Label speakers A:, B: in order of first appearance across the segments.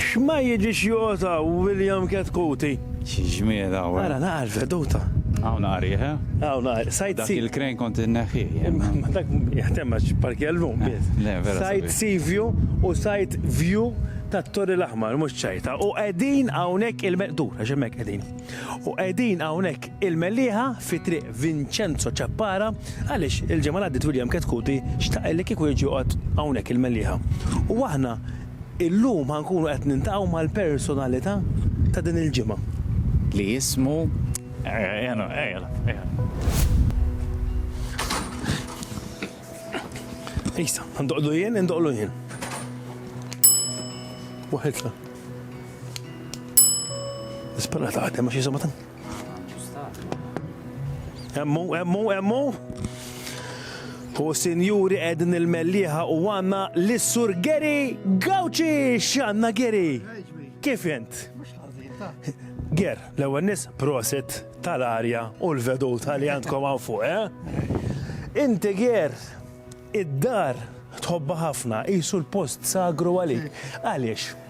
A: X'ma jiġix jota William Ketkuti. Xi ġmiel hawn.
B: Ara naqra
A: l-veduta. Hawn naqra riħ,
B: eh? Hawn naqra. Sight sea.
A: Dak il-crane kont inneħħih
B: jien. Ma dak
A: jaħdem għax parkja llum biss. Le, vera. Sight
B: sea view
A: u sight view tat-Torri l-Aħmar, mhux ċajta. U qegħdin hawnhekk il, dur għax hemmhekk qegħdin. U qegħdin hawnhekk il-Mellieħa fi Triq Vincenzo Ciappara għaliex il-ġimgħa li għaddiet William Ketkuti xtaq li kieku jiġi joqgħod hawnhekk il-Mellieħa. U aħna Illum ħa nkunu qed niltaqgħu mal-personalità ta' din il-ġimgħa. Li jismu Isa, ndoqqlu jien, indoqqlu jien. Waħedna. Nispera taħdem għax jisimha Emmu, emmu, emmu. U sinjuri edin il-melliħa u għanna l-sur Geri Gawċi xanna Geri. Kif jent? Ger, l-ewwel nis prosit tal-arja u l-vedu tal-li għandkom għan fuq, eh? Inti Ger, id-dar tħobba ħafna, jisu l-post sagru għalik. Għaliex?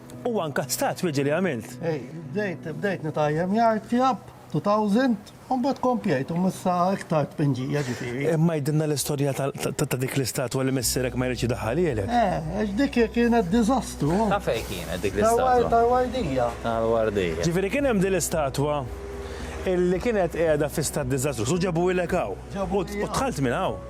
A: Huwa nkastat bieġi li għamilt. Ej, bdejt, bdejt
C: nitajjem jgħid fjab, 2000, un bat kompjajt, un missa iktar tpinġija ġifiri. Imma jdinna l-istoria
A: ta' dik l-istatwa li missirek ma jridx daħħal jgħelek. Eh, għax dik
C: kienet dizastru. Ta' fej kienet dik
B: l-istatwa? Tal-wardija.
C: Tal-wardija. Ġifiri
B: kien hemm din
A: l-istatwa illi kienet qiegħda fi stat dizastru, su ġabu jgħelek hawn. U tħalt minn hawn.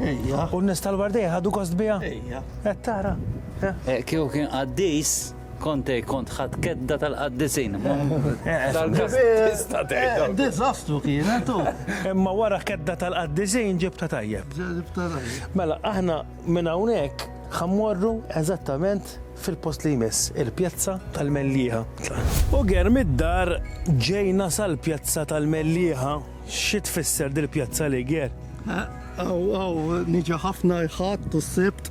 A: Ejja. U
C: n-nies tal-Wardeja
A: ħadu gost biha? Ejja. Qed tara? Eh, kieku kien
B: qaddis, konte kont ħadd kedda tal-qaddisin.
C: Dizastru kien, eh, tu. Imma wara kedda
A: tal-qaddisin ġibta tajjeb. Ġibta tajjeb. Mela, aħna minn hawnhekk ħammorru eżattament fil-post li jmiss, il-pjazza tal-Mellieħa. U ger mid-dar ġejna sal-pjazza tal-Mellieħa. Xi tfisser dil Pjazza Liger? Hawn hawn
C: niġi ħafna l-Ħadd u s-Sibt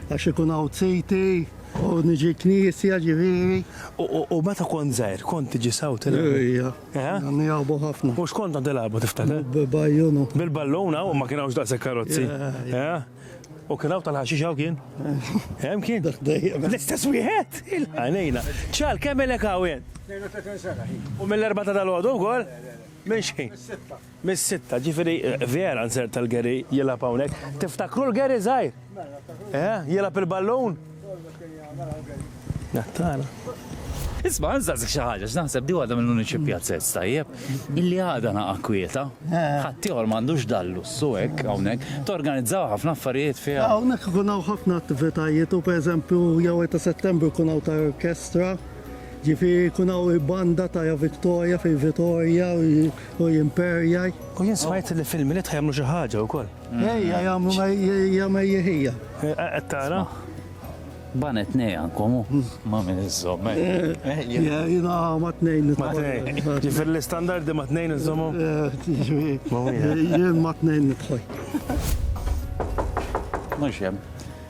C: għax ikun hawn ziti u niġi knisja ġifieri. U meta
A: kont żgħir kont tiġi sew tilgħab? Ejja.
C: Nilgħabu ħafna. U x'kont kont tilgħabu
A: tiftakar? Bajjunu.
C: Bil-ballun hawn ma
A: kien hawnx daqshekk karozzi. U kien hawn tal-ħaxix hawn kien? Hemm kien? L-istess wieħed? Għajnejna. Ċal kemm ilek hawn? 32 sena.
D: U mill-erbata tal-għodu
A: wkoll? Minn xejn. Mis-sitta. Mis-sitta, ġifieri vera nserta l-Gary jilgħab hawnhekk. Tiftakru l-Gary żgħir? Mela, eh, jilgħab il-ballun? Nattana. Isma,
B: nżazzik xi ħaġa, x'naħseb di għadha mill-uniċi pjazzez tajjeb, illi għadha naqa' kwieta. Eh. Ħaddieħor m'għandux dallu su hekk hawnhekk, torganizzaw ħafna affarijiet fiha. Ah, hawnhekk ikun hawn ħafna
C: attivitajiet u pereżempju jew ta' Settembru jkun hawn ta' orkestra. Ġifieri jkun hawn il-banda ta' ja Victoria fil Vitorja u Imperjaj. U jien smajt li
A: fil-Milied ħa jagħmlu xi ħaġa wkoll. Ejja jagħmlu
C: ja mejjeħija. Qed tara?
A: Banet
B: tnejn għandkom hu. Ma' min iżżomm hekk.
C: Jiena ma' tnejn. Ma' tnejn. Ġifieri
A: l-istandardi ma' tnejn iżżommhom? Jien
C: ma' tnejn nidħol.
B: Mhux hemm.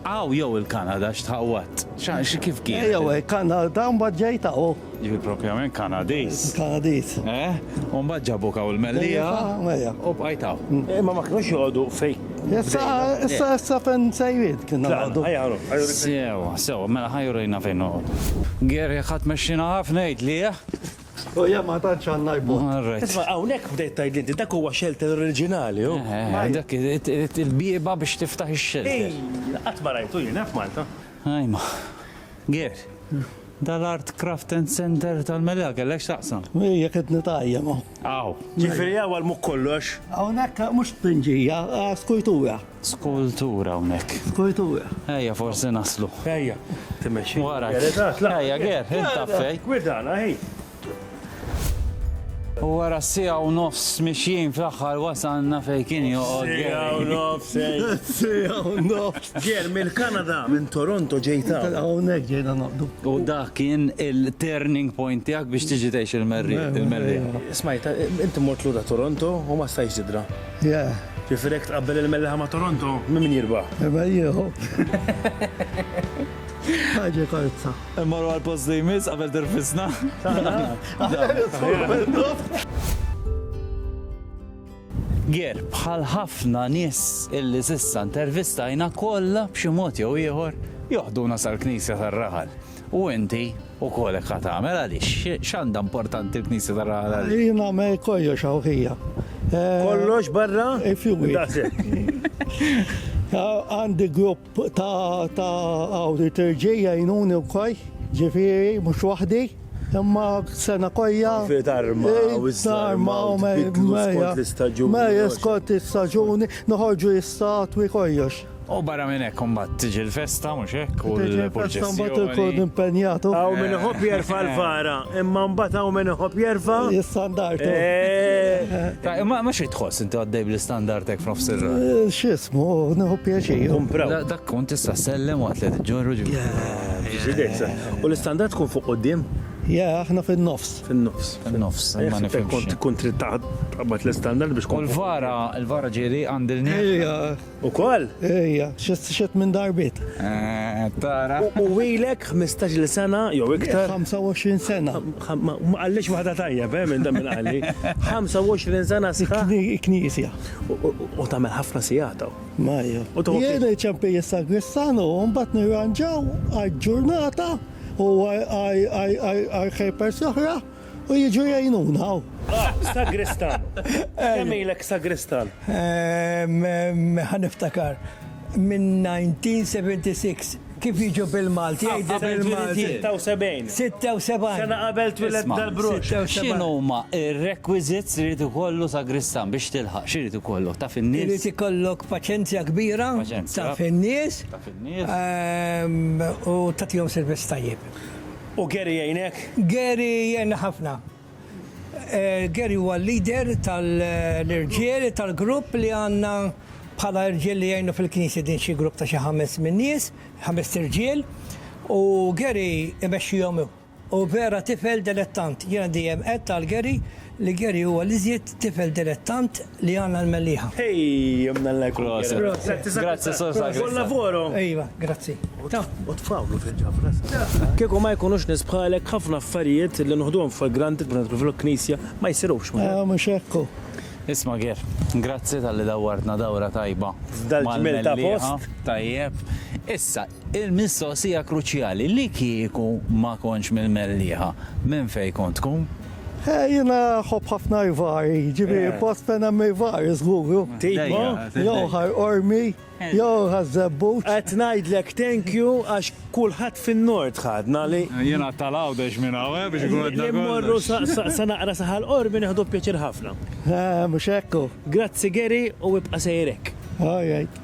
B: Hawn jew il-Kanada x'tħawwadt? X'għax kif kien? Ejja hekk, Kanada
C: mbagħad ġejt hawn. Ġifieri propjament
B: Kanadiż. Kanadiż. Eh?
C: U mbagħad
B: ġabuk hawn il-Mellieħa. Ejja. U bqajt hawn. Mm. Eh, ma ma kinux joqogħdu
A: fejn. Issa issa
C: issa fejn sejrid kien nagħdu. Sew,
B: sew, mela ħajrejna fejn noqgħodu. Geri ħadd mexxina ħafna jgħid li eh? Stoja
C: ma tantx għandna jbot. All right. Isma' hawnhekk
B: bdejt tgħidli
A: inti dak huwa xelter oriġinali hu. Eħe, dak irid
B: il-bieba biex tiftaħ ix-xelter. Ejja, qatt ma rajtu
A: jien eh f'Malta. Ajma.
B: Ger, dal-Art Craft and Centre tal-Melilla kellek x'taqsam? Hi jekk qed nitgħajjem
C: hawn. Aw. Ġifieri
B: hawn għal mhu
A: kollox? Hawnhekk mhux
C: tpinġija, skujtura. Skultura
B: hawnhekk. Skultura. Ejja
C: forsi
B: naslu. Ejja. Timexxi.
A: Wara. Ejja
B: Ger,
A: inta fej.
B: Gwidana hi. U wara siegħa u nofs mixjin fl-aħħar wasalna fejn kien joqgħod. Siegħa u nofs. Siegħa
A: u
C: nofs. Ger mill-Kanada,
A: minn Toronto ġejt hawn. Hawnhekk ġejna noqgħdu.
C: U dak kien
B: il-turning point tiegħek biex tiġi tgħix il-Merriħ. Smajt,
A: inti mort lura Toronto u ma stajtx tidra. Yeah. Ġifieri
C: jekk tqabbel
A: il-Melliħa ma' Toronto, minn min jirbaħ? Irbaħ jieħu.
C: Ħaġa karza. Immorru għal post li
B: jmiss qabel tirfisna. Ger, bħal ħafna nies illi sissa intervistajna kollha b'xi mod jew ieħor joħduna sal-Knisja tar-Raħal. U inti Ukoll hekk ha tagħmel, għaliex? X'għandha importanti l-Knisja taraha l għaliex? Jien nagħmel kollox
C: hawn fija. Kollox
A: barra? Ifjuwit.
C: Daqshekk. Għandi grupp ta' hawn liturġija jgħinuni wkoll, ġifieri mhux waħdi, imma sena kollha. Fi tarma
A: u iż-żarma u tbiddlu
C: skont l-istaġuni. Mela skont l-istaġuni noħorġu l-istatwi kollox. U barra minn hekk
B: imbagħad tiġi l-festa, mhux hekk, u l-purċissjoni. Tiġi l-festa imbagħad
C: inkunu
B: impenjatu. Hawn
C: min iħobb jerfa'
A: l-vara, imma imbagħad hawn min iħobb jerfa'. L-istandard.
C: Eh.
B: Ma xi tħoss inti għaddej bl-istandard hekk f'nofs ir-raħal? Eh, x'ismu,
C: nieħu pjaċir. Tkun proud. Dak tkun
A: tista'
B: ssellem waqt li tiġġorru ġifieri. Yeah. Ġifieri
A: U l-istandard tkun fuq quddiem? Yeah, aħna
C: fin-nofs. Fin-nofs. Fin-nofs.
A: Eh, ma
B: nifhimx. Kont tkun trid taqbad
A: l-istandard biex tkun. U l-vara,
B: l-vara
A: ġieli
B: għandilni.
C: Ukoll?
A: Ejja,
C: xed minn darbiet. Eh, tara.
B: U ilek
A: 15-il sena jew iktar? 25 sena.
C: Ma qallix
A: waħda tajjeb, eh, minn dan minn qalli. 25 sena sħa. Knisja.
C: U
A: tagħmel ħafna sijataw. Ma jew. U tagħmel.
C: Jien iċempej is-sagristanu, mbagħad nirranġaw għal ġurnata u għal ħejpers oħra. U jiġu jgħinuna hawn. Ah, sagristan!
A: Kemm ilek sagristan? Ħa
D: niftakar, minn 1976. Kif jiġu bil-Malti? Jgħidu bil-Malti. 76. 76.
A: Sena
D: qabel twilet
A: dal-brux. X'inhuma
B: r-requisites li jrid ikollu sagristan biex tilħaq? X'irid ikollu? Taf in-nies? Irid ikollok
D: paċenzja kbira, taf in-nies,
B: u tagħtihom
D: servizz tajjeb. U Gary
A: jgħinek? Gary jgħinna
D: ħafna. Gary huwa l-leader tal-irġiel tal-grupp li għandna bħala irġiel li jgħinu fil-knisja din xi grupp ta' xi ħames minn nies, ħamest irġiel, u Gary imexxihom hu. U vera tifel delettant. Jiena dejjem għedt għal Gary Li Gary huwa l-iżjed tifel dilettant li għandna l-Mellieħa.
A: Kieku ma jkunux nies bħalek ħafna affarijiet li noħduhom for granted bħal pereżempju l-Knisja ma jsirux. Mhux hekk hu.
C: Isma' Ger,
B: grazzi talli dawwartna dawra tajba mal-Mellieħa.
A: Tajjeb.
B: Issa, Il-mistoqsija kruċjali, li kieku ma kontx mill-Mellieħa, minn fejn kont tkun? Eh, jiena
C: nħobb ħafna l-var, jiġifieri eh. post fejn hemm il-var, żgur.
A: Jew ħar
C: ormi, eh. jew ħar żebbut. Qed ngħidlek
A: thank you għax kulħadd fin-nord ħadna li. Jiena tal-għawdex
B: minn hawn biex ikun qed Immorru
A: sa naqra saħal ormi neħdu pjaċir ħafna. Mhux hekk.
C: Grazzi Geri
A: u
C: ibqa' sejrek.
A: All
C: right.